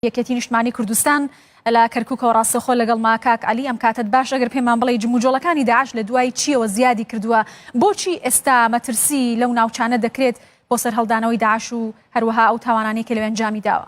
یەکێتی نیشتمانی کوردستان لە کەرکوکەوە ڕاستەخۆ لەگەڵ ما کاک علی ئەم کاتت باش ئەگەر پێمان بڵێ جموجۆڵەکانی داعش لە دوای چیەوە زیادی کردووە بۆچی ئێستا مەترسی لەو ناوچانە دەکرێت بۆ سەر هەڵدانەوەی داعش و هەروەها ئەو تاوانانی کە لەوێن جامی داوە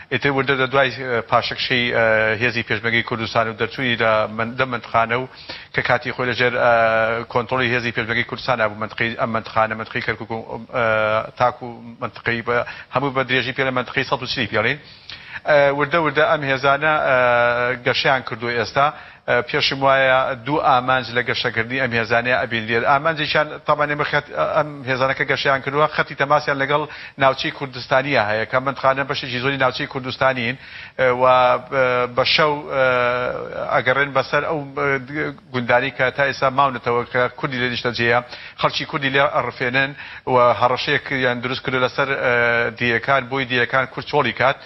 ئیتر وردە وردە دوای پاشەکشەی هێزی پێشمەرگەی کوردستان و دەرچوونی لە لەم مەنتقانە و کە کاتی خۆی لە ژێر کۆنتڕۆڵی هێزی پێشمەرگەی کوردستانا بوو مەنتقەی ئەم مەنتقانە مەنتقەی کەرکوک و تاکوو مەنتقەی بە هەموو بە درێژی پێ لە مەنتقەی سەد و چلی پێڵین وردە وردە ئەم هێزانە گەشەیان کردووە ئێستا پێشم وایە دوو ئامانج لە گەشەکردنی ئەم هێزانەیە ئەبینرێت، ئامانجێکیان تابان ئێمە خەت ئەم هێزانە کە گەشەیان کردووە خەتی تەماسیان لەگەڵ ناوچەی کوردستانییە هەیە کە ئەم بەندخانە بەشێکی زۆری ناوچەی کوردستانین و بە شەو ئەگەڕێن بەسەر ئەو گوندانەی کە تا ئێستا ماونەتەوە کە کوردی لێ نیشتەجێیە خەڵکی کوردی لێ ئەڕفێنن و هەڕەشەیەکیان دروست کردووە لەسەر دێیەکان بۆی دێیەکان کورد چۆڵی کات.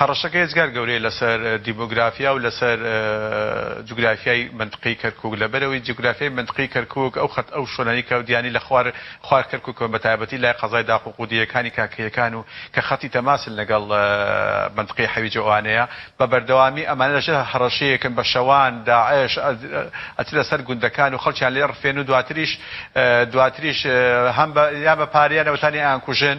هەڕەشەکە ئێجگار گەورەیە لەسەر دیمۆگرافیا و لەسەر جوگرافیای مەنتقەی کەرکووک، لەبەرئەوەی جوگرافیای مەنتقەی کەرکووک ئەو خەت ئەو شۆنانی کە دیانی لە خوار خوار کەرکووکەوە بە تایبەتی لای قەزای داق و قودیەکانی کاکەییەکان و کە خەتی تەماسن لەگەڵ مەنتقەی حەویجە ئەوانەیە بە بەردەوامی ئەمانە لەژێر هەڕەشەیەکن بە شەوان داعش ئەچنە سەر گوندەکان و خەڵکیان لێ ئەڕفێن و دواتریش دواتریش هەم بە یا بە پارە یان نەوتانی ئەیانکوژن.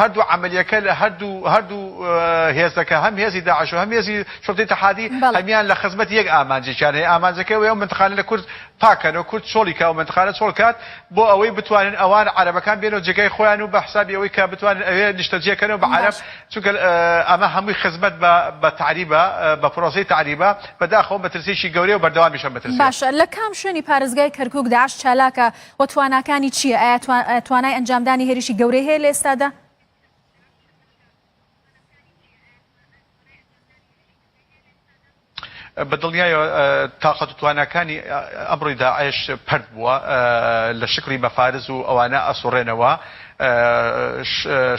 هەردوو عەمەلیەکە لە هەردوو هەردوو هێزەکە هەم هێزی داعش و هەم هێزی شوڕتەی تەحادی بەڵێ هەمیان لە خزمەت یەک ئامانجێکیان هەیە ئامانجەکەی ئەوەیە ئەو منتقانە لە کورد پاکەنەوە کورد چۆڵی کا و منتقانە چۆڵ کات بۆ ئەوەی بتوانن ئەوان عەرەبەکان بێنەوە جێگای خۆیان و بە حسابی ئەوەی کە بتوانن ئەوێ نیشتەجێکەنەوە بە عەرەب باش چونکە ئە، ئەمە هەمووی خزمەت بە بە تەعریبە بە پرۆسەی تەعریبە بەداخەوە مەترسییەکی گەورەیە و بەردەوامیشە مەترسییە. باش لە کام شوێنی پارێزگای کەرکوک داعش چالاکە وە تواناکانی چیە؟ ئایا توانای ئەنجامدانی هێرشی گەورەی هەیە لە ئێستادا؟ بە دڵنیایەوە تاقەت و تواناکانی ئەمڕۆی داعش پەرت بووە لە شکڵی مەفارز و ئەوانە ئەسوڕێنەوە،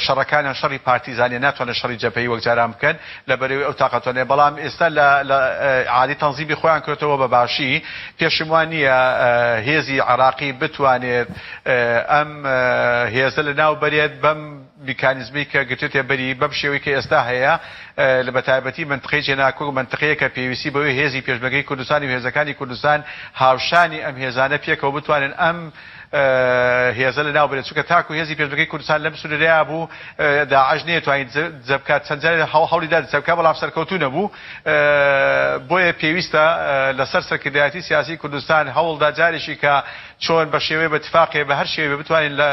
شەڕەکانیان شەڕی پارتیزانیە ناتوانن شەڕی جەبهەیی وەک جاران بکەن لەبەرەوەی ئەو تاقەتۆان هەیە بەڵام ئێستا لە عالی تەنزیمی خۆیان کردەوە بە باشی پێشم وان نییە هێزی عراقی بتوانێت ئەم هێزە لە ناو بەرێت بەم میکانیزمی کە گرتێتێ بەری بەم شێوەی کە ئێستا هەیە لە بەتایبەتی منتقی جێناکۆ و منتقەیە کە پێویستی بەوەی هێزی پێشمەگەی کوردستانی و هێزەکانی کوردستان هاوشانی ئەم هێزانە پێکەوە بتوانن ئەم هێزە لە ناو بنێت چونکە تاکو هێزی پێشمەرگەی کوردستان لەم سنورەیا بوو داعش نەیەتوانی دزە بکات چەند جارێ هەوڵی دا دزە بکات بەڵام سەرکەوتوو نەبوو بۆیە پێویستە لەسەر سەرکردایەتی سیاسی کوردستان هەوڵ دا جارێکی کە چۆن بە شێوەی بە تفاقێ بە هەر شێوەی بتوانین لە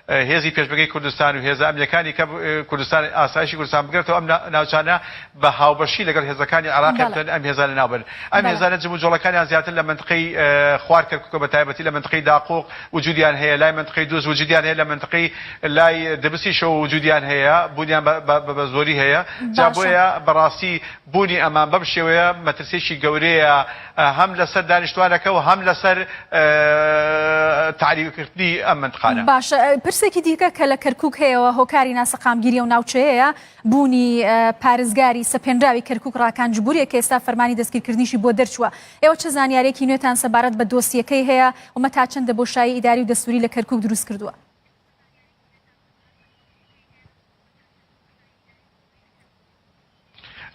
هێزی پێشمەرگەی کوردستان و هێزە ئەمنیەکانی کە کوردستان ئاسایشی کوردستان بگرێتەوە ئەم ناوچانە بە هاوبەشی لەگەڵ هێزەکانی عێراقیان بتوانن ئەم هێزانە ناوبەن. ئەم هێزانە جموجۆڵەکانیان زیاتر لە مەنتقەی خوار کەرکوکە بە تایبەتی لە مەنتقەی داقوق وجودیان هەیە، لای مەنتقەی دوز وجودیان هەیە، لە مەنتقەی لای دبسیشەوە وجودیان هەیە، بوونیان بە زۆری هەیە. جا بۆیە بە ڕاستی بوونی ئەمان بەم شێوەیە مەترسیەکی گەورەیە هەم لە سەر دانیشتوانەکە و هەم لە سەر تەعریب کردنی ئەم مەنتقانە. باشە پرسێکی دیکە کە لە کەرکوک هەیەوە هۆکاری ناسەقامگیری ئەو ناوچەیەیە، بوونی پارێزگاری سەپێنراوی کەرکوک ڕاکان جبوریە کە ئێستا فەرمانی دەستگیرکردنیشی بۆ دەرچووە ئێوە چ زانیارێکی نوێتان سەبارەت بە دۆسیەکەی هەیە ومە تا چەندە بۆشایی ئیداری و دەستوری لە کەرکوک دروست کردووە؟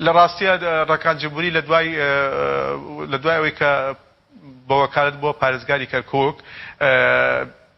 لە ڕاستیە ڕەکان جبوری لە دوای لە دوای ئەوەی کە بە وەکالەت بووە پارێزگاری کەرکوک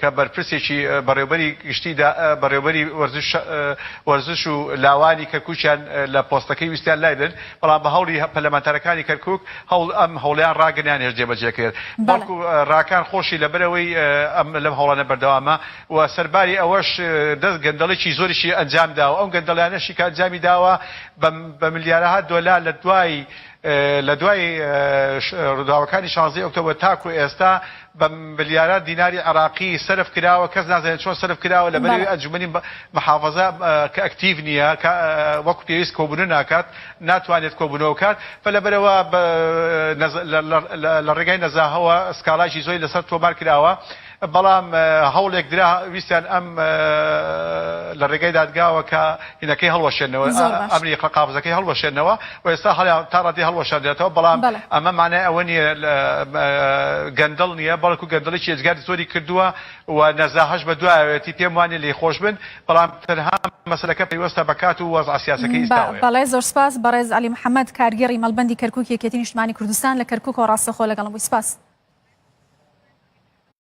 کە بەرپرسێکی بەڕێوبەری گشتی دا بەڕێوبەری وەرزش وەرزش و لاوانی کەرکوکیان لە پۆستەکەی ویستیان لای بنێت بەڵام بە هەوڵی پەرلەمانتارەکانی کەرکوک هەوڵ ئەم هەوڵەیان ڕاگرت نەیانهێشت جێ بەجێ کرێت بەڵکو بەڵێ. راکان خۆشی لەبەرئەوەی ئەم لەم هەوڵانە بەردەوامە و سەرباری ئەوەش دەست گەندەڵیکی زۆریشی ئەنجام داوە ئەو گەندەڵیانەشی کە ئەنجامی داوە بە بە ملیارەها دۆلار لە دوای لە دوای روداوەکانی شانزدەی ئۆکتۆبەر تاکو ئێستا بە ملیاران دیناری عێراقی سەرف کراوە کەس نازانێت چۆن سەرف کراوە لەبەر بەڵێ. ئەوەی ئەنجومەنی محافەزە کە ئەکتیڤ نییە کە وەکو پێویست کۆبوونە ناکات ناتوانێت کۆبوونەوە بکات بە لەبەرئەوە بە نەزە لە لە لە ڕێگای نەزاهەوە سکاڵایکی زۆری لەسەر تۆمار کراوە بەڵام هەوڵێک درا ویستیان ئەم لە ڕێگای دادگاوە کە ئینەکەی هەڵوەشێنەوە، زۆر باش. ئەمری قە قافزەکەی هەڵوەشێنەوە و ئێستا هەڵیا تا ڕادەی هەڵوەشاندرێتەوە بەڵام بەڵێ. ئەمە مانای ئەوە نییە لە مە گەندەڵ نییە بەڵکوو گەندەڵیی ئێجگاری زۆری کردووە و نەزاهەش بە دوایەوەیەتی پێم وا نییە لێی خۆش بن بەڵام تەنها مەسەلەکە پەیوەستە بە کات و وەزعە سیاسەکەی بە ئیستاوەیە. بەڵێ زۆر سپاس بەڕێز عەلی محەمەد کارگێڕی مەڵبەندی کەرکووک یەکێتی نیشتمانی کوردستان لە کەرکووکەوە ڕاستەخۆ لەگەڵم بووی سپاس.